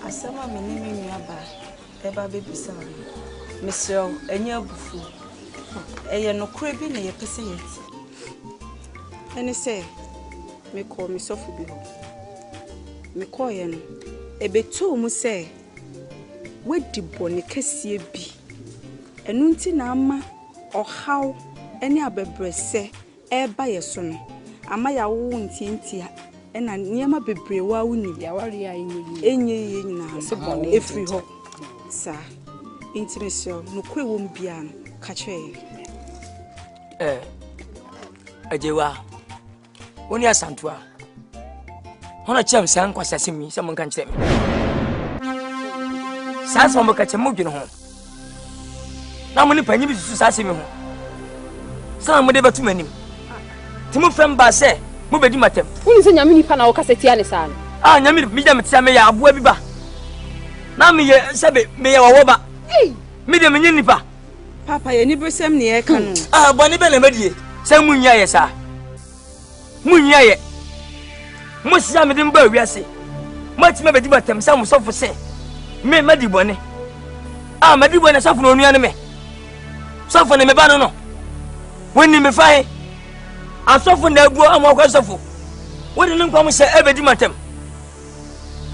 Asɛm a me ne me nuabaa ɛba bɛbisa no, mesrɛ wo, ɛnyɛ abufuo. Ɛyɛ nokorɛ bi na yɛpɛ sɛ yɛte. Ɛne sɛ, mekɔɔ me sɔfo bi hɔ. Mekɔɔeɛ no, ɛbɛtoo mu sɛ wadi bɔne kɛseɛ bi. Ɛno nti na ama ɔhaw ne abɛbrɛsɛ ɛreba yɛn so no ama yɛawowo ntiantia na nneɛma bebree wɔ a wonim ɛnyɛ yiye nyinaa no ɛfiri hɔ saa. Enti mesrɛ wo, nokorɛ wɔ mu biara no, ka kyerɛ yɛn. Ɛɛ, Agyewa, wo ne Asantua. Hɔn na kyerɛ me saa nkwaseasɛm yi sɛ monka nkyerɛ me. Saa asɛm a moka kyerɛ mo dwen ho. Na mo ne panyin bi susu saa asɛm yi ho. Sɛ na mode bɛto m'anim. Nti mofrɛ me baa sɛ mobɛdi m'atɛm. Woni sɛ nyame nipa na wokasa tia ne saa no? Ah, nyame nipa, megya metea meyɛ aboa bi ba. Na meyɛ sɛbe meyɛ wɔwɔ ba. Me deɛ menye nipa. Papa, yɛ ne bresɛm ne yɛka no. Ah, bɔne bɛ na madie sɛ munyi ayɛ saa. Munyi ayɛ! Mose a mede mo baa wiase, moatumi abedi me atɛm sɛ mo sɔfo se me madi bɔne. A madi bɔne sɔfo na onua ne me. Sɔfo ne me ba no no. Wonni me fa he. Asɔfo na aguo ama wɔkɔ sɔfo. Wode ne nkwa mo sɛ ɛbɛdi me atɛm.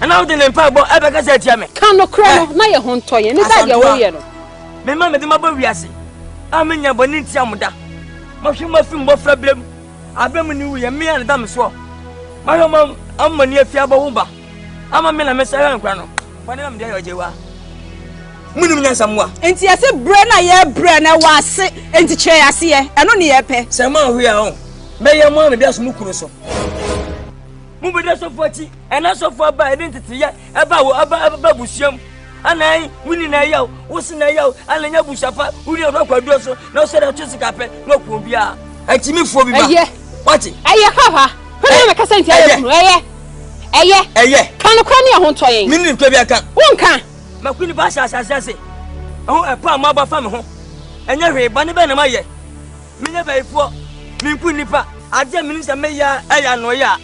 ɛna wode ne mpaebɔ ɛbɛkasa atia me ka nokorɛ no na yɛ ho ntɔ yɛn ne sɛ deɛ woyɛ no mema mede mabɔ wiase a menya bɔne ntia mo da mahwɛ mo afi mmɔfra berɛ mu aberɛ mu ne wuyɛ me a ne da me soɔ mahwɛ mo ammɔne afi abɔ ho ba ama me na mesɛ hwɛ nkora no bɔne na mede ayɛ ɔgye wa munim nyansa mu a enti yɛse berɛ na yɛbrɛ na ɛwɔ ase enti kyerɛ yɛ aseɛ ɛno ne yɛpɛ sɛ ma ahoyɛ a ɔ mɛyɛ mo a mede aso mo kuro so Mobɛdi asɔfoɔ akyi, ɛna asɔfoɔ aba ɛde nteteyɛ ɛba wɔ ɛba ɛba abusua mu. Anan wo ni na ɛyɛ o, wo si na ɛyɛ o, anan nya abusua pa, wo ni ɔdɔ akɔ aduro so, na ɔsɛ dɛ ɔtwe sika pɛ, na ɔkuo biara. Akyimifoɔ bi ba. Ɛyɛ. Wate. Ɛyɛ papa. Hwene na mɛkasa nti ɛyɛ kunu. Ɛyɛ. Ɛyɛ. Ɛyɛ. Kanokora ne ɛho ntɔ yɛn. Mene ntɔ bi aka. Wonka. Mako nipa ahyɛ ahyɛ ase ase. Ɛho ɛpa a mo aba fa me ho. Ɛnyɛ hwee, bɔne bɛn na mayɛ? Menyɛ bayifoɔ, menku nnipa. Adeɛ a menim sɛ mɛyɛ a yɛ anoyɛ a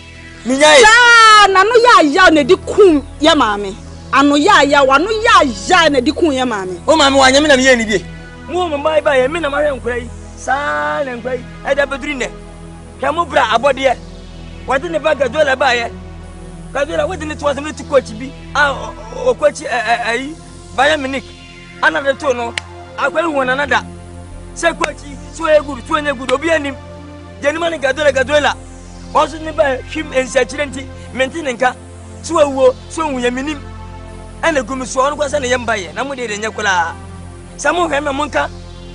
menyae. Saa na ano yɛ ayaw na ɛde kum yɛ maame. Ano yɛ ayaw, ano yɛ ayaw na ɛde kum yɛ maame. O maame wanyɛ me na meyɛɛ ne bie. Mo mo mmaa yi baeɛ, me na mahwɛ nkora yi. Saa na nkora yi ɛde abɛduru nnɛ. Hwɛ mo bra abɔdeɛ, wɔde ne ba Gaduela baeɛ. Gaduela wode ne to asɛm no ti kɔ akyi bi a ɔkɔ akyi ɛyi Bayern Munich. Ana de to no akwa hu na nada. Se kwa chi so ye good so enye good obi anim. Jeni mani gadola gadola. Onso ne ba hwim ensi akyire nti mente ne nka. So awuo so hu ye menim. Ene gumi so ono kwa se ne ye mba ye na mo de de enye koraa. Se mo hwe me mo nka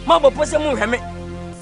mabɔ po se mo hwe me.